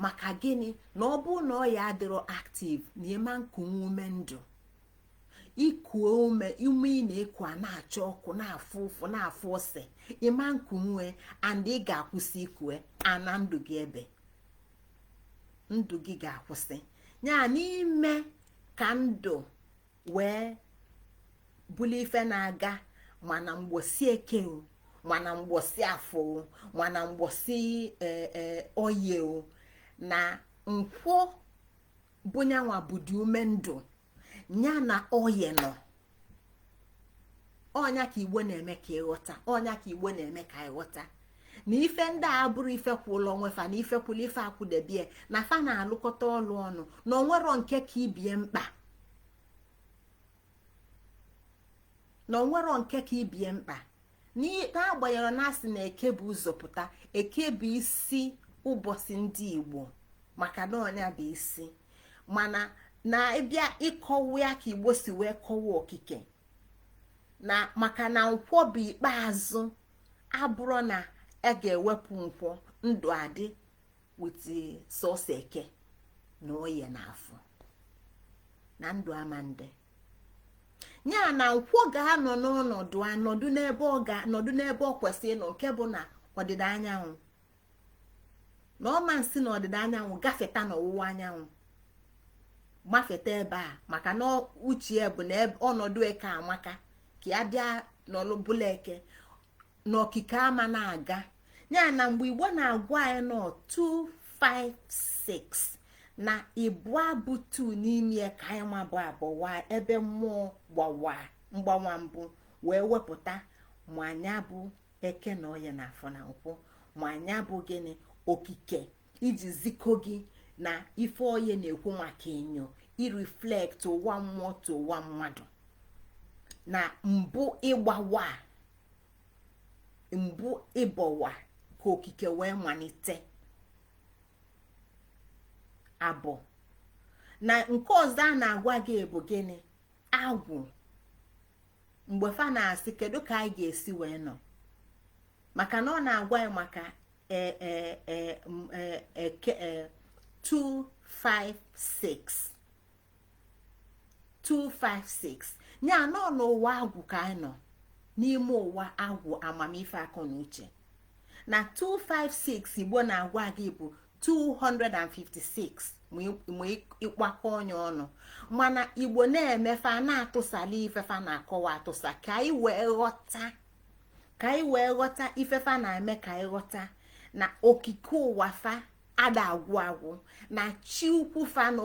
maka gịnị na ọ bụrụ na oye adịrọ active na ị ma na-ekunwu ume ndụ i kuo ume ume ị na-eku a na-acha ọkụ na-afụ ụfụ na-afụ ose ị ma na-ekunwu e and ị ga-akwụsị iku e ana ndụ gị ebe ndụ gị ga-akwụsị ya na ime ka ndụ wee bụlụ ife na-aga ma na mgbọsị eke o ma na mgbọsị afọ o ma na mgbọsị e, e, oye o na nkwọ bụ nya nwa bụdị ume ndụ ya na oye nọ ọ nya ka igbo na-eme ka ị ghọta ọ nya ka igbo na-eme ka ị ghọta na ife ndị a abụrọ ife kwụlụ onwe fa na ife kwụlụ ife akwụdebe e na fa na-alụkọta ọlụ ọnụ na o nwerọ nke ka ibe e mkpa na o nwerọ nke ka ibe e mkpa n'agbanyerọ na a sị na eke bu ụzọ pụta eke bụ isi ụbọsị ndị igbo maka na ọ nya bụ isi mana na ị bịa ịkọwa ya ka igbo si wee kọwa okike na maka na nkwọ bụ ikpeazụ abụrọ na a ga-ewepụ nkwọ ndụ adị with sọsọ eke na oye na afọ na ndụ ama na-adị ya na nkwọ ga-anọ n'ọnọdụ a nọdụ n'ebe ọ ga anọdụ n'ebe o kwesịrị ịnọ nke bụ n'ọdịda anyanwụ na ọ ma na-esi n'ọdịda anyanwụ gafeta n'ọwụwa anyanwụ mafeta ebe a maka na o che na ọnọdụ eke amaka ka ya bịa nọlụ bụlụ eke na okike ama na-aga ya na mgbe igbo na-agwa anyị na ọ 256 na ịbụa bụ 2 n'ime ya ka anyị ma bụ abụwa ebe mmụọ gbawa mgbawa mbụ wee wepụta ma anya bụ eke na oye na afọ na nkwọ ma anya bụ gịnị okike iji zikọ gị na ife oye na-ekwu maka enyo ireflect ụwa mmụọ to ụwa mmadụ na mbụ ịgbawa mbụ ịbọwa ka okike wee malite abụ na nke ọzọ a na-agwa gị bụ gịnị agwụ mgbe fa na-asị kedu ka anyị ga-esi wee nọ maka na ọ na-agwa ya maka eh, eh, eh, mm, eke 256 256 ya na ọ n'ụwa agwụ ka anyị nọ n'ime ụwa agwụ amamife akọ na uche na 256 igbo na-agwa gị bụ 256 ma ị kpakọnye ọnụ mana igbo na-eme fa na-atụsala ife fa na-akọwa atụsa ka anyị wee ghọta ka anyị wee ghọta ife fa na-eme ka anyị ghọta na okike ụwa fa ada agwụ agwụ na chi ukwu fa na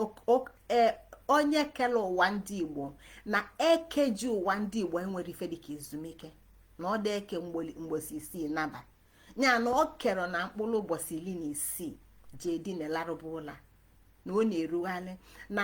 e, onye kele ụwa ndị igbo na eke ji ụwa ndị igbo enwerọ ife dịka ezumike na ọ da eke mbọsị isii naba ya na ọ kerọ na mkpụlụ ụbọsị ili na isii je dina larụba ụla na ọ na-erughalị na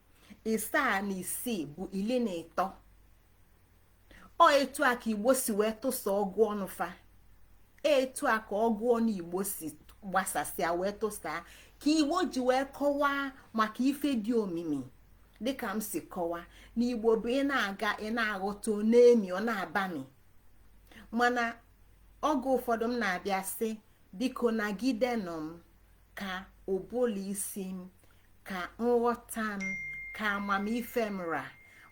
ịsaa na isii bụ ili na ịtọ ọ etu a ka igbo si wee tụsa ọgụ ọnụ fa etu a ka ọgụ ọnụ igbo si gbasasịa wee tụsaa ka igbo ji wee kọwaa maka ife dị omimi dịka m si kọwaa na igbo bụ ị na-aga ị na-aghọta ọ na-emi ọ na-abami mana oge ụfọdụ m na-abịa sị biko nagidenụ m ka ụbụlụ isi m ka nghọta m ka amamife m ra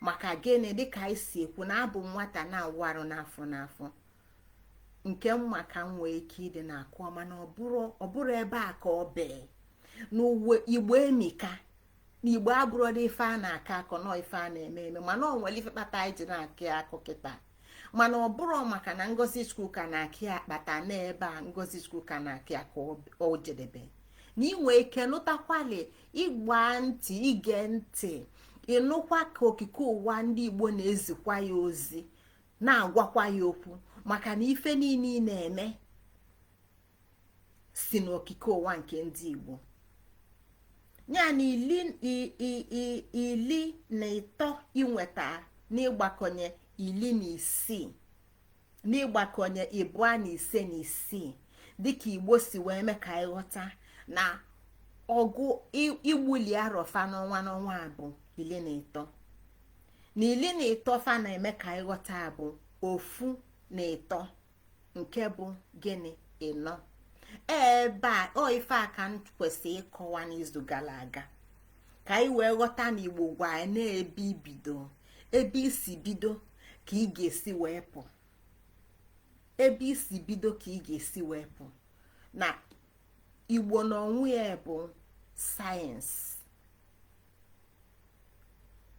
maka gịnị dịka anyị si ekwu na abụ nwata na-awụ arụ n'afọ n'afọ nke m ma ka m nwee ike ịdị na-akọ mana ọ bụrọ ebe a ka ọ bee na ụwa igbo emika na igbo abụrọ ife a na-akọ akọ na ọ ife a na-eme eme mana ọ nwere ife kpata anyị ji na-akọ ya akọ kịta mana ọ bụrọ maka na ngozi chukwuka na-akọ ya kpata n'ebe a ngozi chukwuka na-akọ ya ka o jedebe na i nwe ike nụtakwali ịgba ntị ige ntị ịnụkwa ka okike ụwa ndị igbo na-ezikwa ya ozi na-agwakwa ya okwu maka na ife niile ị na-eme si n'okike ụwa nke ndị igbo ya na ili ili na ịtọ i nweta n'ịgbakọnye ili na isii n'ịgbakọnye ịbụa na ise na isii dịka igbo si wee mee ka ị ghọta na ọgụ igbuli arọ fa n'ọnwa n'ọnwa abụ ili na ịtọ na ili na ịtọ fa na-eme ka ị ghọta abụ ofu na ịtọ nke bụ gịnị ịnọ ebe a ọ ife a ka m kwesịrị ịkọwa n'izu gala aga ka anyị wee ghọta na igbo gwa anyị na ebe i bido ebe i si bido ka ị ga-esi wee pụ ebe i si bido ka ị ga-esi wee pụ na igbo na onwe ya bụ science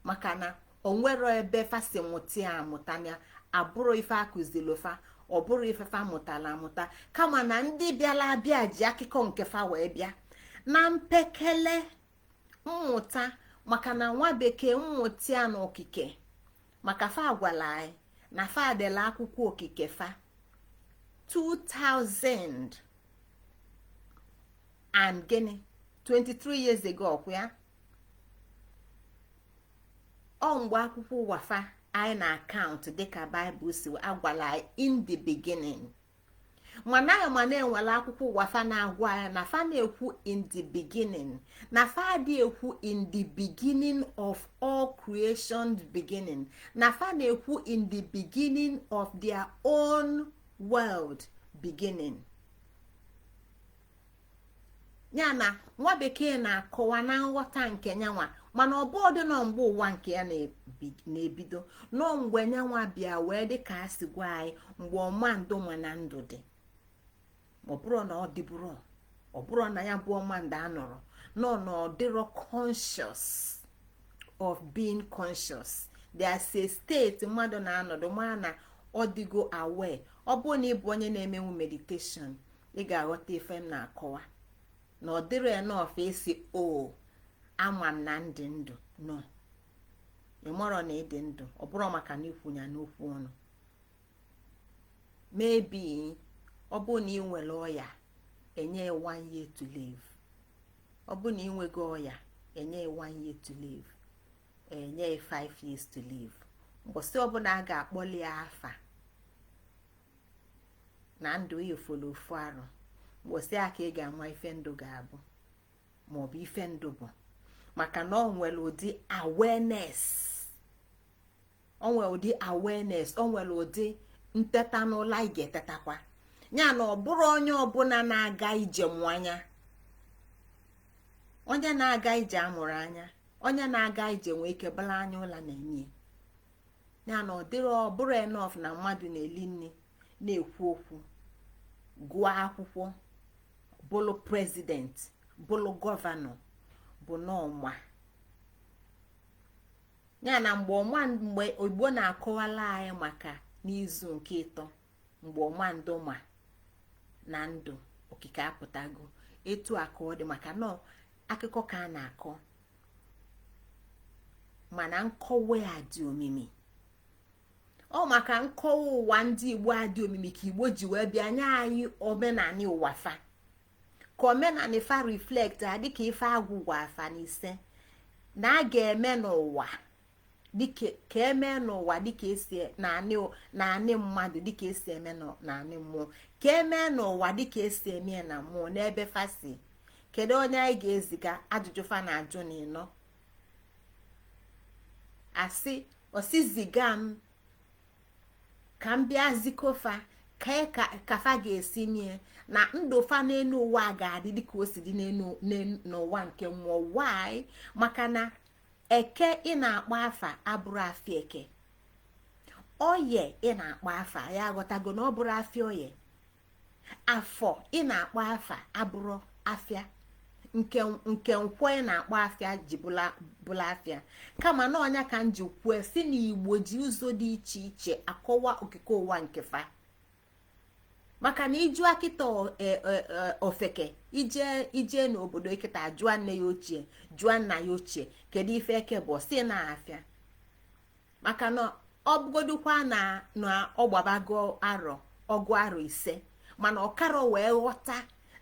maka na o nwero ebe fa si mụta ya amụta na abụrọ ife a kụzilo fa ọ bụrọ ife fa mụtala amụta kama na ndị bịala abịa ji akụkọ nke fa wee bịa na mpekele mmụta maka na nwa bekee mmụta ya na okike maka fa agwala anyị na fa dela akwụkwọ okike fa 2000 and gịnị 23 years ago ọkwa ya ọ mgbe akwụkwọ ụwa fa anyị na account dịka bible si agwala anyị in the beginning mana anyị ma na e nwere akwụkwọ ụwa fa na-agwa anyị na fa na-ekwu in the beginning na fa adị ekwu in the beginning of all creation beginning na fa na-ekwu in the beginning of their own world beginning ya na nwa bekee na-akọwa na nghọta nke nyanwa mana ọ bụ ọ dị na ọ mgbe ụwa nke ya na-ebido na ọ mgbe nyanwa bịa wee dị ka a si gwa anyị mgbe ọma ndụ ma na ndụ dị ọ bụrọ na ọ dịburọ ọ bụrọ na ya bụ ọma ndụ anọrọ no na ọ dịrọ conscious of being conscious there's a state mmadụ na-anọdụ ma na ọ dịgo aware ọ bụrụ na ị bụ onye na-emenwu meditation ị ga-aghọta ife m na-akọwa na ọ dịrọ enough ịsị o ama m na m dị ndụ no ị marọ na ị dị ndụ ọ bụrọ maka na i kwu ya n'okwu ọnụ maybe ọ bụ na i nwere ọya e nye one year to live ọ bụrụ na i nwego ọya e nye one year to live e nye five years to live mbọsị ọbụla a ga-akpọli ya afa na ndụ ị fọlọ ofu arọ mbọsị a ka ị ga-ama ife ndụ ga-abụ maọbụ ife ndụ bụ maka na o nwere ụdị awareness o nwere ụdị awareness o nwere ụdị nteta n'ụla ị ga-etetakwa ya na ọ bụrọ onye ọbụla na-aga ije mụ anya onye na-aga ije amụrọ anya onye na-aga ije nwee ike bala anya ụla na-enye ya na ọ dịrọ ọ bụrọ enough na mmadụ na-eli nri na-ekwu okwu gụọ akwụkwọ bụlụ president bụlụ governor bụ na ọ ma ya na mgbe ọma mgbe igbo na-akọwalụ anyị maka n'izu nke ịtọ mgbe ọma ndụ ma na ndụ okike apụtago etu a ka ọ dị maka na akụkọ ka a na-akọ mana nkọwa ya dị omimi ọ maka nkọwa ụwa ndị igbo a dị omimi ka igbo ji wee bịa nye anyị omenani ụwa fa ka omenani fa reflectia dịka ife agwụ gwa fa na ise na a ga-eme n'ụwa dịka ka eme n'ụwa dịka esi n'anị mmadụ dịka esi eme n'anị mmụọ ka eme n'ụwa dịka esi eme ya na mmụọ n'ebe fa sị kedu onye anyị ga-eziga ajụjụ fa na-ajụ na ịnọ asị ọ sị ziga m ka m bịa ziko fa kee ka fa ga-esi mie na ndụ fa n'enu ụwa ga-adị dịka o si dị n'ụwa nke mmụọ why maka na eke ị na-akpọ afa abụrọ afịa eke oye ị na-akpọ afa ya aghọtago na ọ bụrọ afịa oye afọ ị na-akpọ afa abụrọ afịa nke nke nkwọ ị na-akpọ afịa ji bụlụ afịa kama na ọ nya ka m ji kwue sị na igbo ji ụzọ dị iche iche akọwa okike ụwa nke fa maka na ị jụọ kịta e, e, e, ofeke i jee i jee n'obodo kịta jụọ nne ya ochie jụọ nna ya ochie kedu ife eke bụ sị na afịa maka na ọ bụgodukwa na na ọ gbabago arọ ọgụ arọ ise mana ọ karọ wee ghọta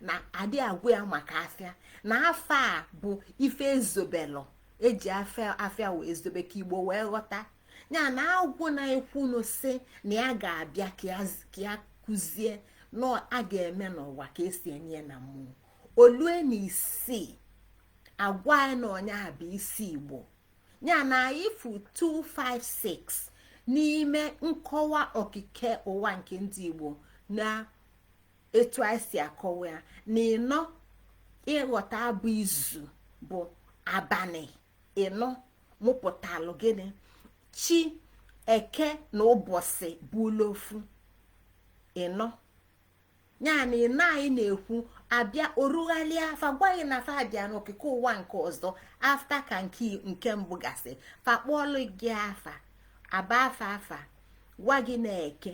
na adị agwa ya maka afịa na fa bụ ife e zobelụ e ji afịa afịa wee zobe ka igbo wee ghọta ya na agwụ na-ekwunụ sị na ya ga-abịa ka ya kụzie na a ga-eme n'ụwa ka esi eme na mmụọ o lue na isii agwa ya na ọ nya bụ isi igbo ya na ị fụ 256 n'ime nkọwa okike ụwa nke ndị igbo na etu anyị si akọwa ya na ịnọ ị ghọta abụ izu bụ abanị ịnọ mụpụtalụ gịnị chi eke na ụbọsị bụlụ ofu ịnọ ya na ịnọ anyị na-ekwu abịa orughalịa fa gwa gị na fa abịa n'okike ụwa nke ọzọ after ka nke nke mbụ gasị fa kpọọlụ gị afa aba afa fa gwa gị na eke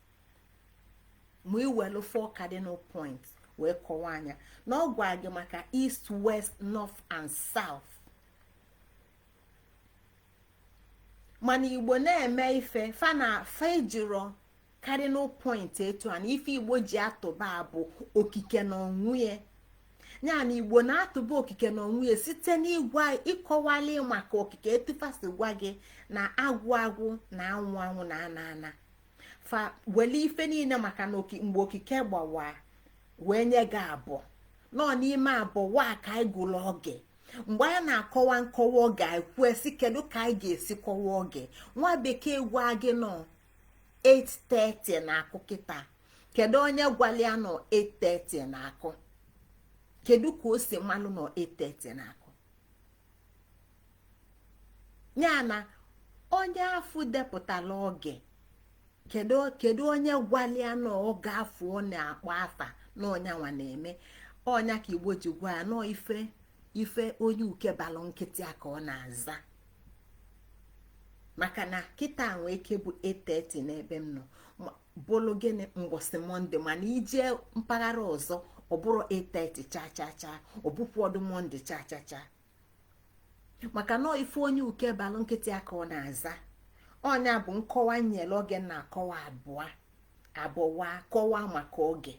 ma i welu four cardinal points wee kọwaa nya na ọ gwa gị maka east west north and south mana igbo na-eme ife fa na fa ejiro cardinal point etu a na ife igbo ji atụba bụ okike na onwe ya ya na igbo na-atụba okike na onwe ya site n'ịgwa ịkọwali maka okike etu fa si gwa gị na agwụ agwụ na anwụ anwụ na ana ana fa wele ife niine maka na mgbe okike gbawa wee nye gị abụọ nọ n'ime abụọ wa ka anyị gụrụ oge mgbe anyị na-akọwa nkọwa oge anyị kwue sị kedu ka anyị ga-esi kọwa oge nwa bekee gwa gị na ọ 8:30 na-akụ kịta kedu onye gwalụ ya na ọ 8:30 na-akụ kedu ka o si malụ na ọ 8:30 na-akụ ya na onye afụ depụtala oge kedu onye gwalụ ya na oge afụ ọ na-akpọ afa na ọ nya nwa na-eme ọ nya ka igbo ji gwa ya na ọ ife onye uke balụ nkịta ya ka ọ na-aza maka na kịta nwee ike bụ 8:30 n'ebe m nọ bụlụ gịnị mbọsị mọnde mana i jee mpaghara ọzọ ọ bụrọ 8:30 cha cha cha ọ bụkwọdụ mọnde cha cha cha maka na ife onye uke balụ nkịta ya ka ọ na-aza ọ nya bụ nkọwa nyere oge na-akọwa abụọ abụwa kọwa maka oge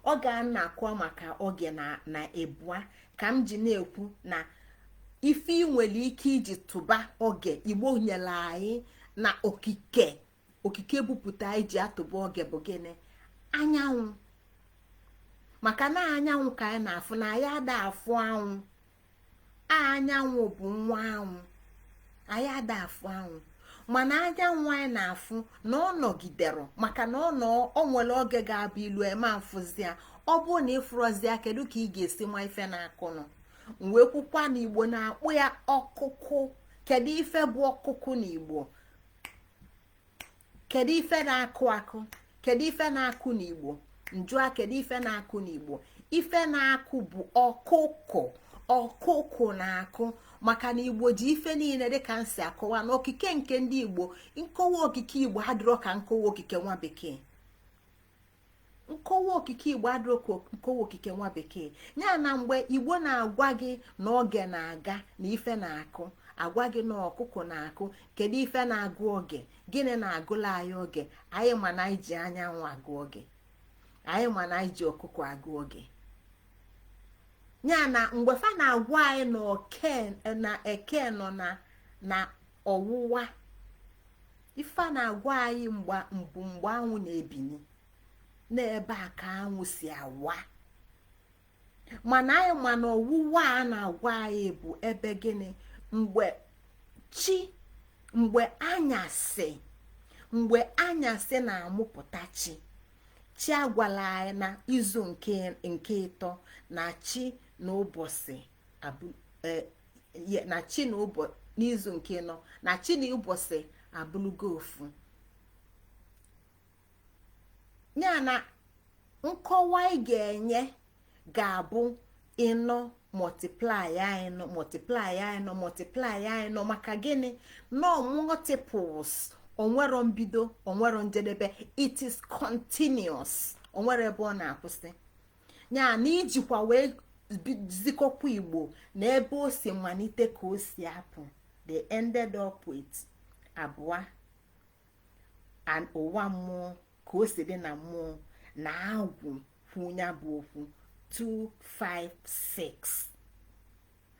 ọ ga na-akọwa maka oge na ebua ka m ji na-ekwu na ife ị nwere ike iji tụba oge igbo nyere anyị na okike okike bupụta anyị ji atụba oge bụ gịnị anyanwụ maka na anyanwụ ka anyị na-afụ na anyị ada afụ anwụ anyanwụ bụ nwa anwụ anyị ada afụ anwụ mana anyanwụ anyị na-afụ na ọ nọgidere maka na o nwere oge ga-abụ i lue ị ma afụzi ya ọ bụrụ na ị fụrọzi ya kedu ka ị ga-esi ma ife na-akụnụ wee kwukwa na igbo na-akpọ ya ọkụkụ kedu ife bụ ọkụkụ na igbo kedu ife na-akụ akụ kedu ife na-akụ n'igbo m jụa kedu ife na-akụ n'igbo ife na-akụ bụ ọkụkụ ọkụkụ na-akụ maka na igbo ji ife niine dịka m si akọwa na okike nke ndị igbo nkọwa okike igbo adịrọ ka nkọwa okike nwa bekee nkọwa okike igbo adịrọ ka nkọwa okike nwa bekee ya na mgbe igbo na-agwa gị na oge na-aga na ife na-akụ agwa gị na ọkụkụ na-akụ kedu ife na-agụ oge gịnị na-agụlụ anyị oge anyị ma na anyị ji anyanwụ agụ oge anyị ma na anyị ji ọkụkụ agụ oge ya na mgbe fa na-agwa anyị na eke nọ na ọwụwa ife a na-agwa anyị mgbe mbụ mgbe anwụ na-ebini n'ebe a ka anwụ si awa mana anyị ma na ọwụwa a na-agwa anyị bụ ebe gịnị mgbe chi mgbe anyasị mgbe anyasị na-amụpụta chi chi agwala anyị na izu nke ịtọ na chi na ụbọsị e, na chi na n'izu nke ịnọ na chi na ụbọsị abụlụgo ofu ya na nkọwa ị ga-enye ga-abụ ịnọ multiply ya ịnọ multiply ya ịnọ multiply ya ịnọ maka gịnị ịnọ multiples o nwero mbido o nwero njedebe it is continuous o nwero ebe ọ na-akwụsị ya na ijikwa wee zikọkwa igbo na ebe o si malite ka o si apụ they ended up with abụa n'ana mmụọ ka o si dị na mmụọ na agwụ kwu nya bụ okwu 256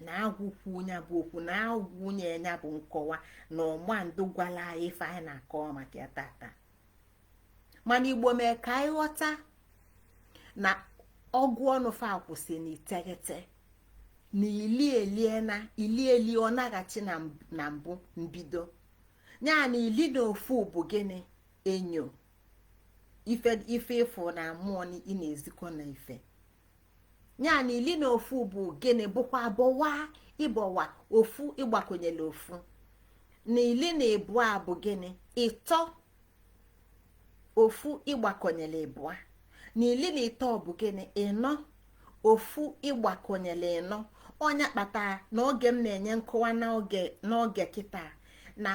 na agwụ kwu nya bụ okwu na agwụ nye nya bụ nkọwa na ọma ndụ gwala anyị ife anyị na-akọwa maka ya tata mana igbo mee ka anyị ghọta na ọgụ ọnụ fa kwụsị n'iteghete na ili elie na ili eli ọ naghachi na mbụ mbido ya na ili na ofu bụ gịnị enyo ife ife ị fụ na mmụọ ị na-ezikọ na ife ya na ili na ofu bụ gịnị bụkwa ịbụa ịbụa ofu ịgbakọnyela ofu na ili na ịbụa bụ gịnị ịtọ ofu ịgbakọnyela ịbụa na ili na ịtọ bụ gịnị ịnọ ofu ịgbakọnyela ịnọ ọ nya kpata na oge m na-enye nkọwa n'oge kịta na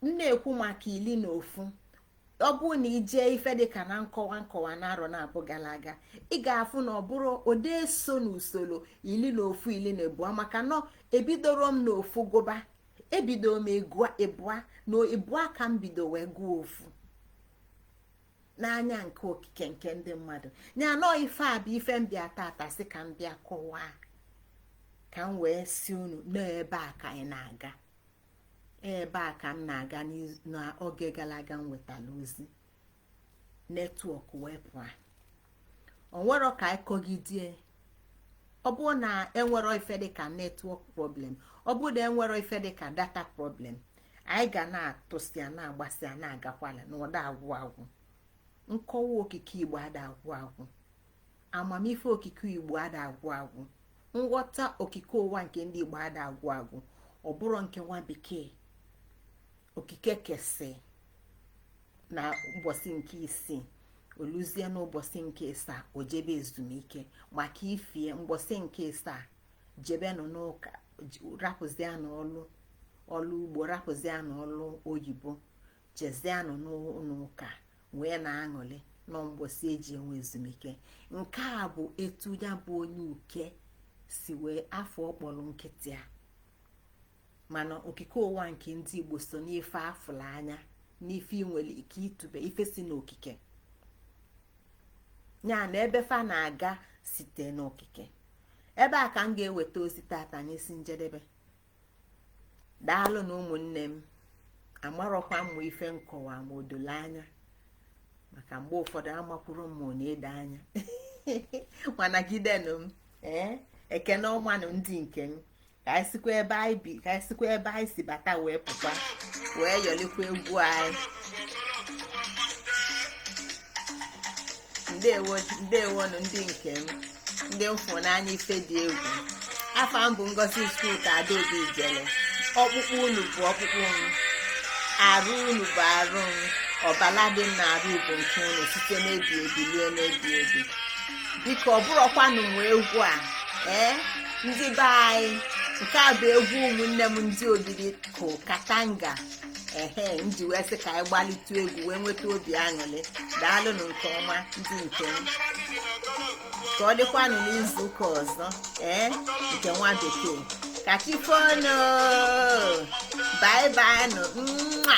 m na-ekwu maka ili na ofu ọ bụrụ na i je ife dịka na nkọwa nkọwa na arọ naabọ gara aga ị ga-afụ na ọ bụrụ ode so na usoro ili na ofu ili na ịbụa maka na ebidoro m na ofu gụba ebido m ịbụa na ịbụa ka m bido wee gụọ ofu n'anya nke okike nke ndị mmadụ ya nọọ ife a bụ ife m bịa tata sị ka m bịa kọwaa ka m wee sị unu n'ebe a ka anyị na-aga ebe a ka m na-aga n'oge gara aga m wetara ozi network wee pụọ o nwero ka anyị kọgidie ọ bụrụ na enwero ife dịka network problem ọ bụrụ na enwero ife dịka data problem anyị ga na-atụsị ya na-agbasị ya na-agakwala na ọ da agwụ agwụ nkọwa okike igbo ada agwụ agwụ amamife okike igbo ada agwụ agwụ nghọta okike ụwa nke ndị igbo ada agwụ agwụ ọ bụrụ nke nwa bekee okike kesị na ụbọsị nke isii o luzie n'ụbọsị nke ịsaa o jebe ezumike maka ifie mbọsị nke ịsaa jebenụ n'ụka rapụzianụ ọlụ ugbo rapụzianụ ọlụ oyibo jezianụ n'ụnọ ụka wee na-aṅụlị na mbọsị e ji enwe ezumike nke a bụ etu ya bụ onye uke si wee afọ ọkpọrọ nkịtị a mana okike ụwa nke ndị igbo so n'ife a fụla anya n'ife ị nwere ike itube ife si n'okike ya na ebe fa na-aga site n'okike ebe a ka m ga-eweta ozi tata n'isi njedebe daalụnụ ụmụnne m amarọkwa m ife m kọwa ma o dolo anya maka mgbe ụfọdụ amakwurọ m ma ọ na-edo anya mana gidenụ m ee ekene ọmanụ ndị nke m ka anyị sikwa ebe anyị si bata wee pụa wee yọlikwa egwu anyị ndewonụ ndị nke m ndị m fụ n'anya ife dị egwu afa m bụ ngozi chukwuka adaobi ijele ọkpụkpụ unu bụ ọkpụkpụ m arụ unu bụ arụ m ọbala dị m n'arụ bụ nke unu site n'ebi ebi ruo n'ebi ebi biko ọ bụrọkwanụ m nwe egwu a ee ndị be anyị nke a bụ egwu ụmụnne m ndị obiri ko katanga ehe m ji wee sị ka anyị gbalịtụ egwu wee nweta obi aṅụrị daalụnụ nke ọma ndị nke m ka ọ dịkwanụ n'izu ụka ọzọ ee nke nwa bekee ka chi fonụ bye bye nụ nwa